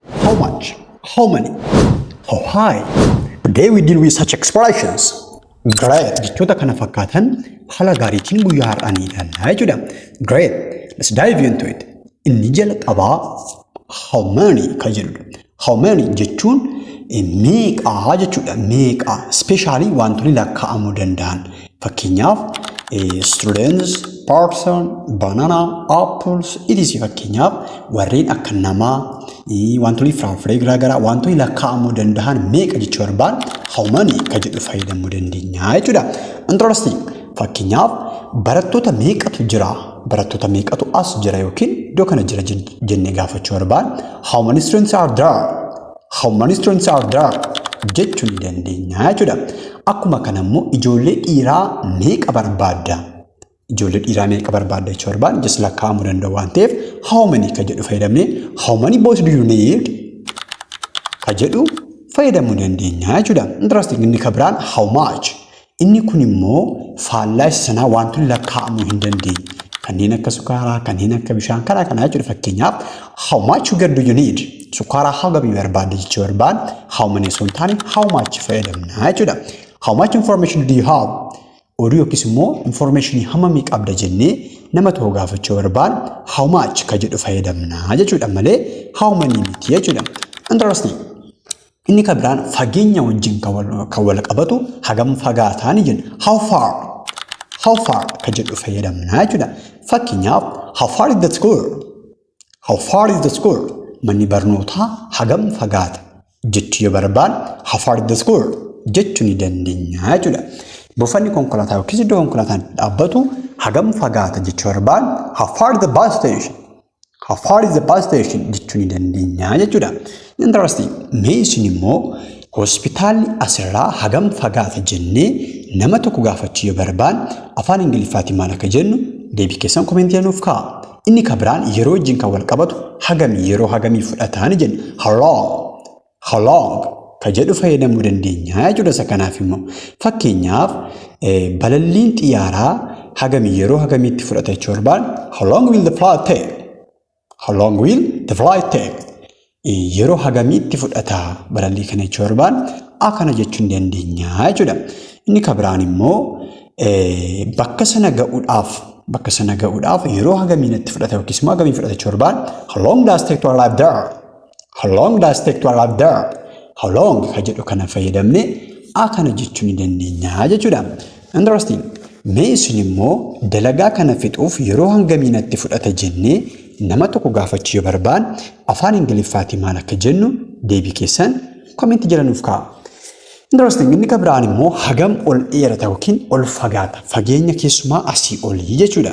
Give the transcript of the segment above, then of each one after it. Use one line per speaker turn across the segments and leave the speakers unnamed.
How much? How many? How high? Today we deal with such expressions. Great. Jechoota kana fakkaatan haala gaariitiin guyyaa har'aa ni ilaalla jechuudha. Great. Let's dive into it. Inni jalqabaa how many kan jedhudha. How many jechuun meeqaa jechuudha. Meeqaa. Ispeeshaalii wantoonni lakkaa'amuu danda'an. Fakkeenyaaf students, person, banana, apples, etc. Fakkeenyaaf warreen akka namaa, wantoonni firaafiree garaagaraa, wantoonni lakkaa'amuu danda'an meeqa jechuu barbaan how many ka jedhu fayyadamuu dandeenya jechuudha. Interesting. Fakkeenyaaf barattoota meeqatu jira? Barattoota meeqatu as jira yookiin iddoo kana jira jennee gaafachuu barbaan how many students are there? How many students are there? jechuu ni dandeenya jechuudha. Akkuma kana immoo ijoollee dhiiraa meeqa barbaadda? Ijoollee dhiiraa meeqa barbaadda jechuu barbaadne just lakkaa'amuu danda'u waan ta'eef how many ka jedhu fayyadamnee how many boys do you need? ka jedhu fayyadamuu dandeenya jechuudha. Interesting inni ka biraan how much? Inni kun immoo faallaa isa sanaa wantoonni lakkaa'amuu hin dandeenye. Kanneen akka sukaaraa, kanneen akka bishaan karaa kanaa jechuudha fakkeenyaaf. How much sugar do you need? Sukaaraa hagam yoo barbaadde jechuu barbaadne how many osoo hin taane how much fayyadamna jechuudha. How much information do you have? Oduu yookiis immoo information hammamii qabda jennee nama tokko gaafachuu barbaadne how much ka jedhu fayyadamna jechuudha malee how many miti jechuudha. Interesting. Inni kan biraan fageenya wajjin kan wal- kan wal qabatu hagam fagaataan jenna. How far? How far kan jedhu fayyadamna jechuudha. Fakkeenyaaf, how far is the school? How far is the school? Manni barnootaa hagam fagaata? Jechuu yoo barbaanne how far is the school? jechuu ni dandeenya jechuudha. Buufanni konkolaataa yookiis iddoo konkolaataan itti dhaabbatu hagam fagaata jechuu barbaanne how far is the bus station? How far is the bus station jechuu ni dandeenya jechuudha. Interesting. Mee isin immoo hospitaalli asirraa hagam fagaata jennee nama tokko gaafachuu yoo barbaan afaan Ingiliffaatiin maal akka jennu deebii keessan komentii nuuf kaa'a. Inni kan biraan yeroo wajjin kan wal qabatu hagami yeroo hagamii fudhataa ni jenna. How long? How long ka jedhu fayyadamuu dandeenya jechuudha isa kanaaf immoo. Fakkeenyaaf balalliin xiyyaaraa hagamii yeroo hagamiitti fudhata jechuu barbaadu how long will the flight take? How long will the flight take? Yeroo hagamiitti fudhata balallii kana jechuu barbaadu akkana jechuun dandeenya jechuudha. Inni ka biraan immoo bakka sana ga'uudhaaf bakka sana ga'uudhaaf yeroo hagamii natti fudhata yookiis immoo hagamii fudhata jechuu barbaadu how long does take to arrive there? How long does it take to arrive there? How long ka jedhu kana fayyadamne a kana jechuu ni dandeenya jechuudha. Interesting. Mee isin immoo dalagaa kana fixuuf yeroo hangamii natti fudhata jennee nama tokko gaafachuu yoo barbaan afaan Ingiliffaatii maal akka jennu deebii keessan komeenti jala nuuf kaa'a. Interesting inni kan biraan immoo hagam ol dheerata yookiin ol fagaata fageenya keessumaa asii olii jechuudha.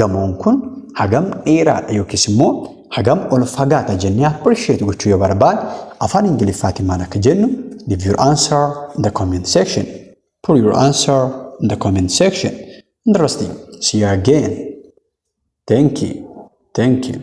Gamoon kun hagam dheeraadha yookiis immoo hagam ol fagaata jennee appreciate gochuu yoo barbaad afaan Ingiliffaatiin maal akka jennu leave your answer in the comment section. Put your answer in the comment section. Interesting. See you again. Thank you. Thank you.